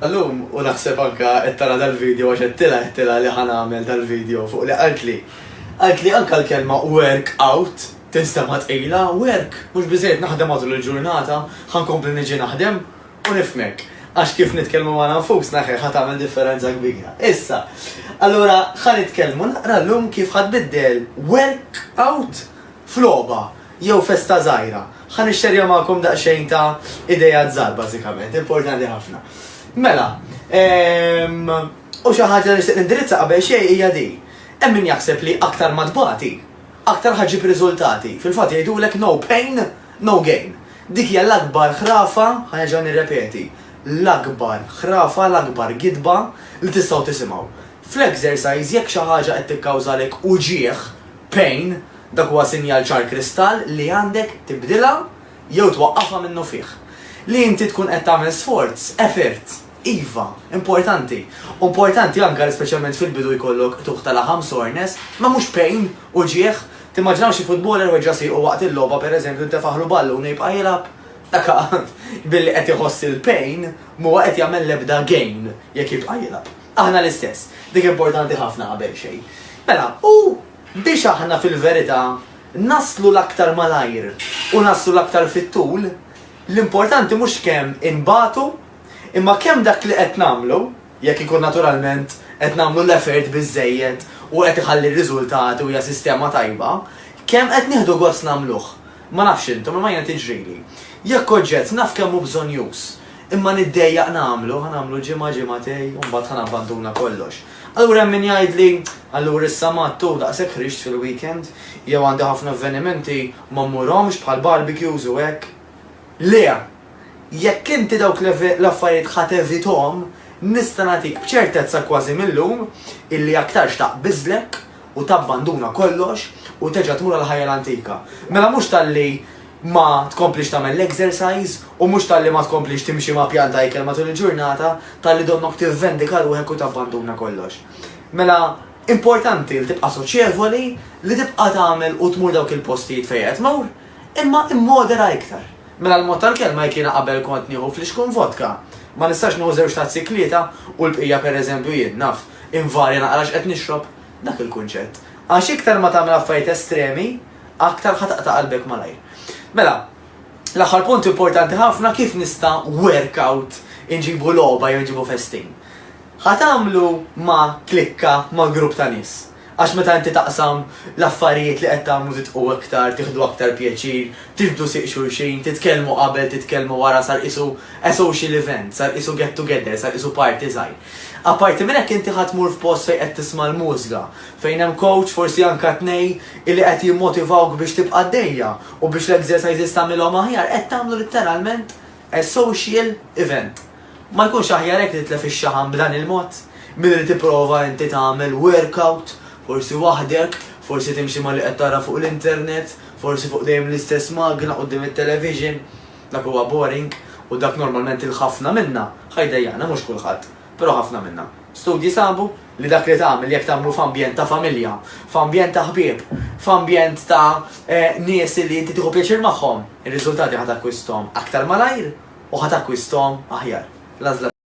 Illum u naħseb anke qed tara dal-video għax għedtilha għedtilha li ħa nagħmel dal-video fuq li qaltli. Qaltli anke l-kelma work out tinstema' tqila, work? Mhux biżżejjed naħdem matul il-ġurnata? Ħa nkompli niġi naħdem? U nifhmek. Għax kif nitkellmu magħna nfusna ħe ħa tagħmel differenza kbira. Issa, allura ħa nitkellmu naqra llum kif ħa tbiddel work out f'logħba. Jew festa żgħira. Ħa nixxerja magħkom daqsxejn ta' ideat żgħar bażikament, importanti ħafna. Mela, u xi ħaġa li nixtieq nindirizza qabel xejn hija din. Hemm min jaħseb li aktar ma tbati, aktar ħa ġġib riżultati. Fil-fatt jgħidulek no pain, no gain. Dik hija l-akbar ħrafa, ħa nerġa' nirrepeti, l-akbar ħrafa, l-akbar gidba li tistgħu tisimgħu. Fl-exercise jekk xi ħaġa qed tikkawżalek uġigħ, pain, Dak huwa sinjal ċar kristall li għandek tibdilha jew twaqqafha minnufih. Li inti tkun qed tagħmel sforz, effort, iva, importanti. U importanti anke li speċjalment fil-bidu jkollok qtugħ ta' laħam, soreness, ma mhux pain, uġigħ. Timmaġinaw xi futboler weġġa' siequ waqt il-logħba pereżempju ntefaħlu ballun u jibqa' jilgħab? Dak billi qed iħoss il-pain m'huwa qed jagħmel l-ebda gain jekk jibqa' jilgħab. Aħna l-istess. Dik importanti ħafna qabel xejn. Mela, u. Biex aħna fil-verità naslu l-aktar malajr u naslu l-aktar fit-tul, l-importanti mhux kemm inbatu, imma kemm dak li qed nagħmlu, jekk ikun naturalment qed nagħmlu l-effort biżżejjed u qed iħalli r-riżultati u hija sistema tajba, kemm qed nieħdu gost nagħmluh. Ma nafx intom, imma jiena tiġrili. Jekk oġġett naf kemm hu bżonnjuż, imma niddejjaq nagħmlu, ħa nagħmlu ġimgħa, ġimgħatej, u mbagħad ħa nabbanduna kollox. Allura hemm min jgħidli, allura issa Matt hu daqshekk ħriġt fil-weekend, jew għandi ħafna avvenimenti, ma mmurhomx bħall-barbecues u hekk. Le! Jekk inti dawk l-affarijiet ħa tevithom, nista' nagħtik b'ċertezza kważi mil-lum illi aktarx taqbiżlek u tabbanduna kollox u terġa' tmur għall-ħajja l-antika. Mela mhux talli ma tkomplix tagħmel l-exercise u mhux talli ma tkomplix timxi ma' pjan ta' ikel matul il-ġurnata, talli donnok tivvendika ruħek u tabbanduna kollox. Mela importanti li tibqa' soċjevoli, li tibqa' tagħmel u tmur dawk il-postijiet fejn qed tmur. Imma immodera iktar. Mela l-mod tal-kelma jekk jiena qabel kont nieħu flixkun vodka, ma nistax nieħu żewġ tazzi tlieta u l-bqija pereżempju jien, naf, invarja naqra x'qed nixrob? Dak il-kunċett. Għax iktar ma tagħmel affarijiet estremi, aktar ħa taqta' qalbek malajr. Mela, l-aħħar punt importanti ħafna kif nista' work out inġibu logħba jew inġibu festin. Ħa tagħmlu ma' klikka, ma' grupp ta' nies. Għax meta inti taqsam l-affarijiet li qed tagħmlu tidqu iktar, tieħdu aktar pjaċir, tiġbdu sieq xulxin, titkellmu qabel, titkellmu wara sar qisu a social event, sar qisu get together, sar qisu party żgħir. Apparti minn hekk inti ħa tmur f'post fejn qed tisma' l-mużga, fejn hemm coach forsi anke tnej illi qed jimmotivawk biex tibqa' għaddejja u biex l-exercises tagħmilhom aħjar, qed tagħmlu litteralment, A social event. Ma jkunx aħjar hekk li titlef ix-xaħam b'dan il-mod? Milli li tipprova inti tagħmel workout, forsi waħdek, forsi timxi ma' li qed tara fuq l-internet, forsi fuq dejjem l-istess magna quddiem it-television. Dak huwa boring u dak normalment 'il ħafna minna ħa jdejjaqna, mhux kulħadd. Però ħafna minna. Studji sabu li dak li tagħmel jekk tagħmlu f'ambjent ta' familja, f'ambjent ta' ħbieb, f'ambjent ta' nies li inti tieħu pjaċir magħhom, ir-riżultati ħa takkwistahom aktar malajr u ħa takkwistahom aħjar. L-għażla.